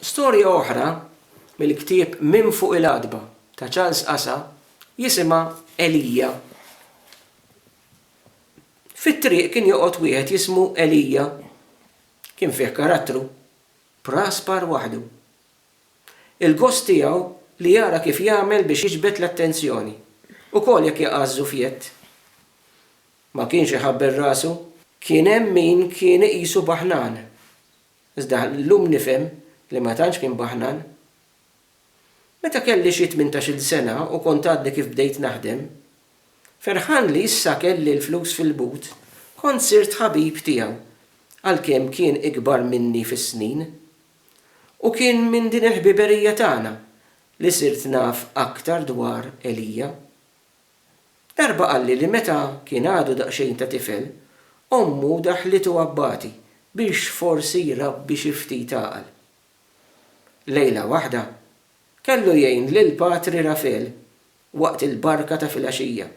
Storja oħra mill-ktieb Minn Fuq il-Għatba ta' Charles Casa jisimha Elija. Fit-triq kien joqgħod wieħed jismu Elija. Kien fih karattru. Praspar waħdu. Il-gost tiegħu li jara kif jagħmel biex jiġbed l-attenzjoni, ukoll jekk jaqa' ż-żufjett. Ma kienx iħabbel rasu. Kien hemm min kien iqisu baħnan. Iżda llum nifhem li ma tantx kien baħnan. Meta kelli xi tmintax-il sena u kont għadni kif bdejt naħdem, ferħan li issa kelli l-flus fil-but, kont sirt ħabib tiegħu għalkemm kien ikbar minni fis-snin. U kien minn din il-ħbiberija tagħna li sirt naf aktar dwar Elia. Darba qalli li meta kien għadu daqsxejn ta' tifel, ommu daħħlitu abbati biex forsi jrabbi xi ftit għaqal. Lejla waħda, kellu jgħin lil Patri Rafel waqt il-barka ta' filgħaxija.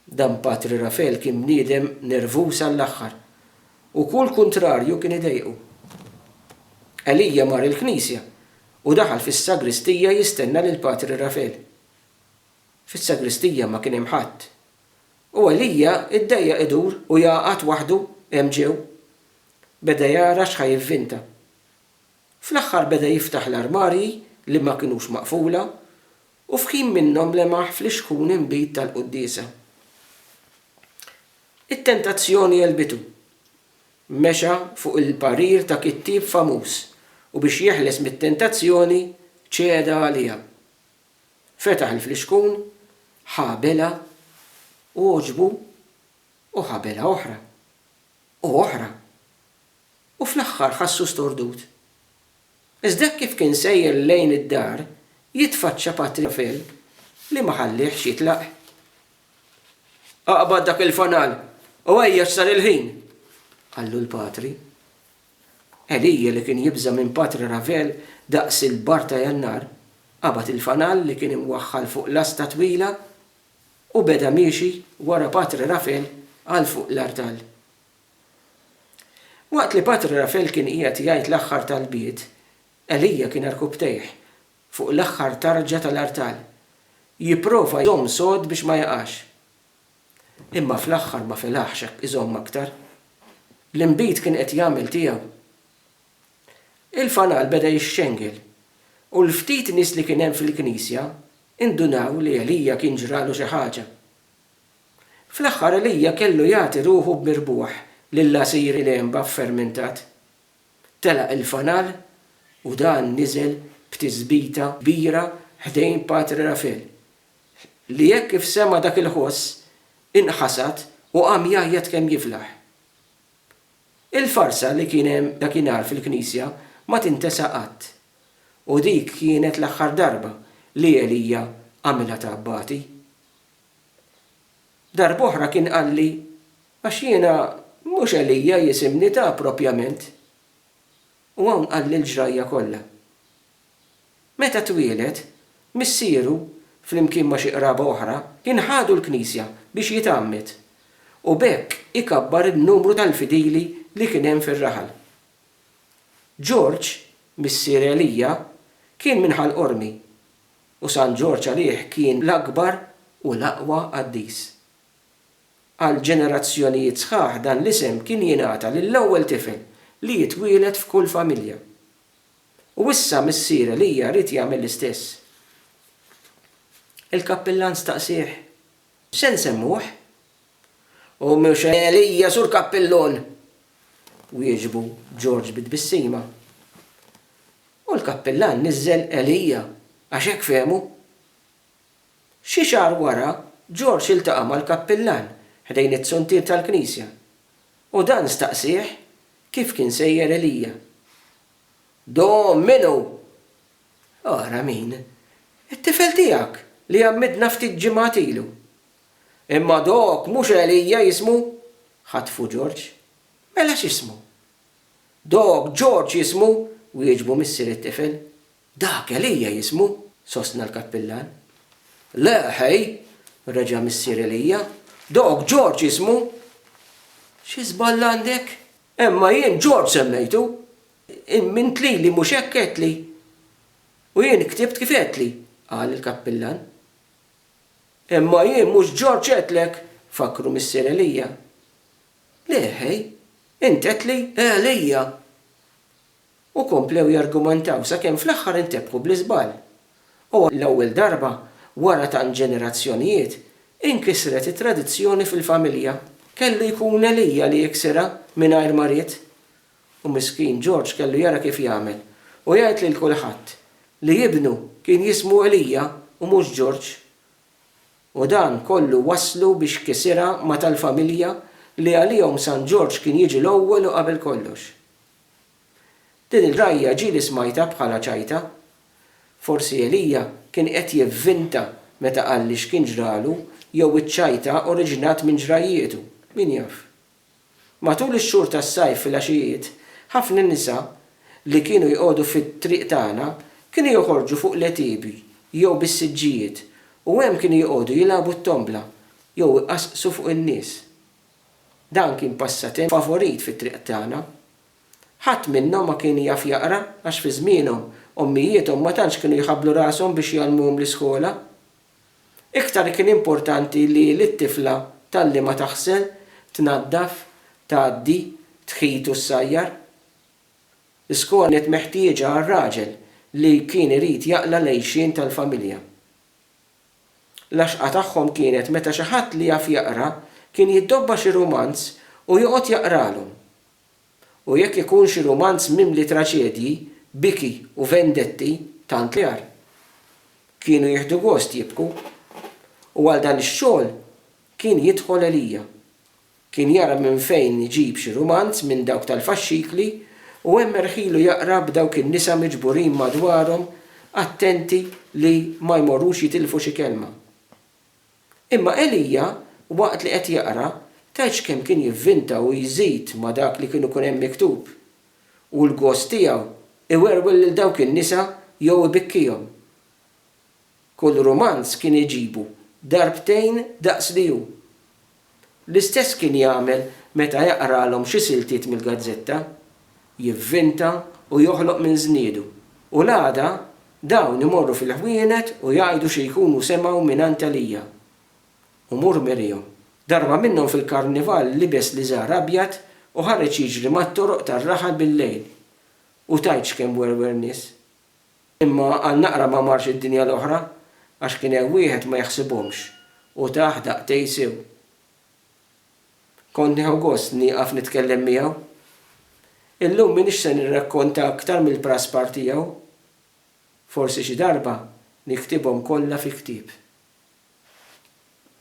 Dan Patri Rafel kien bniedem nervuż għall-aħħar u kull kuntrarju kien idejqu. Elia mar il-knisja u daħal fis-sagristija jistenna lil Patri Rafel. Fis-sagristija ma kien hemm ħadd. U Elija ddejjaq idur u jaqgħad waħdu hemm ġew. Beda jara x'ħa jivvinta. Fl-aħħar beda jiftaħ l-armarji li ma kinux maqfula u f'ħin minnhom lemaħ flixkun inbid tal-quddiesa. It-tentazzjoni għelbitu. Mexa fuq il-parir ta' kittieb famuż u biex jeħles mit-tentazzjoni ċeda għaliha. Fetaħ il-flixkun, ħa belgħa, għoġbu u ħa belgħa oħra, u oħra, u fl-aħħar ħassu stordut. Iżda hekk kif kien sejjer lejn id-dar, jitfaċċa Patri Rafel li ma ħallihx jitlaq. Aqbad dak il-fanal u ejjex sar il-ħin! qallu l-Patri. Elija li kien jibża' minn Patri Ravel daqs il-baħar ta' Jannar, qabad il-fanal li kien imwaħħal fuq lasta twila u beda miexi wara Patri Ravel għal fuq l-artal. Waqt li Patri Ravel kien qiegħed jgħid l-aħħar talbiet, Elija kien rkubtejh fuq l-aħħar tarġa tal-artal, jipprova jżomm sod biex ma jaqax. Imma fl-aħħar ma felaħx hekk iżomm aktar. L-inbid kien qed jagħmel tiegħu. Il-fanal beda jixxengel u l-ftit nies li kien hemm fil-knisja indunaw li Elija kien ġralu xi ħaġa. Fl-aħħar Elija kellu jagħti ruħu b'mirbuħ lil għasir il-għenba ffermentat. Telaq il-fanal u dan niżel b'tisbita kbira ħdejn Patri Rafel li hekk kif sema' dak il-ħoss, inħasad u qam jgħajjat kemm jiflaħ. Il-farsa li kien hemm dakinhar fil-knisja ma tintesa qatt, u dik kienet l-aħħar darba li Elija għamilha ta' abbati. Darb'oħra kien qalli, Għax jiena mhux Elija jisimni ta' propjament. U hawn qalli l-ġrajja kollha. Meta twieled, missieru, flimkien ma' xi qraba oħra, kien ħadu l-Knisja biex jitgħammed, u b'hekk ikabbar in-numru tal-fidili li kien hemm fir-raħal. George, missier Elia, kien minn Ħal Qormi, u San Ġorġ għalih kien l-akbar u l-aqwa qaddis. Għal ġenerazzjonijiet sħaħ dan l-isem kien jingħata lill-ewwel tifel li jitwieled f'kull familja. U issa Missier Elija ried jagħmel l-istess. Il-kappillan staqsieh, Se nsemmuh? U mhux Elija, Sur Kappillun! wieġbu George bi tbissima. U l-kappillan niżżel Elija għax hekk fehmu. Xi xahar wara, George iltaqa' mal-kappillan ħdejn it-zuntier tal-knisja U dan staqsieh kif kien sejjer Elija. Do minu! Ara min! It-tifel tiegħek li għammidna ftit ġimgħat ilu. Imma dok mhux Elija jismu? ħatfu Ġorġ. Mela x'ismu? Dok Ġorġ jismu, wieġbu missier it-tifel. Dak Elija jismu, sostna l-kappillan. Le, ħej! reġa' missier Elija. Dok George jismu. Xi żball għandek? Imma jien George semmejtu! Int lili mhux hekk għedtli? U jien ktibt kif għedtli, qal il-kappillan. Imma jien mhux George għedtlek, fakkru missier Elija. Le, ħej! Int għedtli, Elija! U komplew jargumantaw sakemm fl-aħħar intebħu bl-iżball. U għall-ewwel darba wara tant ġenerazzjonijiet, inkisret it-tradizzjoni fil-familja. Kellu jkun Elija li jiksirha mingħajr ma ried. U miskin George kellu jara kif jagħmel u jgħid lil kulħadd li ibnu kien jismu Elija u mhux George. U dan kollu wasslu biex kisirha ma' tal-familja li għalihom San George kien jiġi l-ewwel u qabel kollox. Din il-rgħajja ġieli smajtha bħalha ċajta. Forsi Elija kien qed jivvinta meta qalli x'kien ġralu jew iċ-ċajta oriġinat minn ġrajjietu, min jaf. Matul ix-xhur tas-sajf filgħaxijiet, ħafna nisa li kienu jqogħdu fit-triq tagħna kienu joħorġu fuq l-għetiebi jew bis-siġġijiet u hemm kienu joqogħdu jilagħbu t-tombla jew iqassqsu fuq in-nies. Dan kien passatemp favorit fit-triq tagħna. Ħadd minnhom ma kien jaf jaqra għax fi żmienhom ommijiethom ma tantx kienu jħabblu rashom biex jgħallmuhom l-iskola. Iktar kien importanti li lit-tifla tgħallimha taħsel, tnaddaf, tgħaddi, tħit u ssajjar. L-iskola kienet meħtieġa għar-raġel li kien irid jaqla' l-għixien tal-familja. L-għaxqa tagħhom kienet meta xi ħadd li jaf jaqra kien jiddobba xi rumanz u joqgħod jaqralhom. U jekk ikun xi rumanz mimli traċedji, biki u vendetti, tant l-agħar. Kienu jieħdu gost jibku. U għal dan ix-xogħol kien jidħol Elija. Kien jara minn fejn iġib xi rumanz minn dawk tal-faxxikli u hemm erħilu jaqra b'dawk in-nisa miġburin madwarhom attenti li ma jmorrux jitilfu xi kelma. Imma Elija, waqt li qed jaqra, tgħidx kemm kien jivvinta u jżid ma' dak li kien ikun hemm miktub. U l-gost tiegħu iwerwel lil dawk in-nisa jew ibikkihom. Kull rumanz kien iġibu darbtejn daqs li hu. L-istess kien jagħmel meta jaqralhom xi siltiet mill-gazzetta. Jivvinta u joħloq minn żniedu, u l-għada dawn imorru fil-ħwienet u jgħidu xi jkunu semgħu mingħand Elia. U mur mirihom. Darba minnhom fil-Karnival libes liżar abjad u ħareġ jiġri mat-toroq tar-raħal bil-lejl. U tgħidx kemm werwer nies. Imma għal naqra ma marx id-dinja l-oħra, għax kien hemm wieħed ma jaħsibhomx u tah daqtej sew. Kont nieħu gost nieqaf nitkellem miegħu. Illum m'iniex se nirrakkonta aktar mill-praspar tiegħu. Forsi xi darba niktibhom kollha fi ktieb.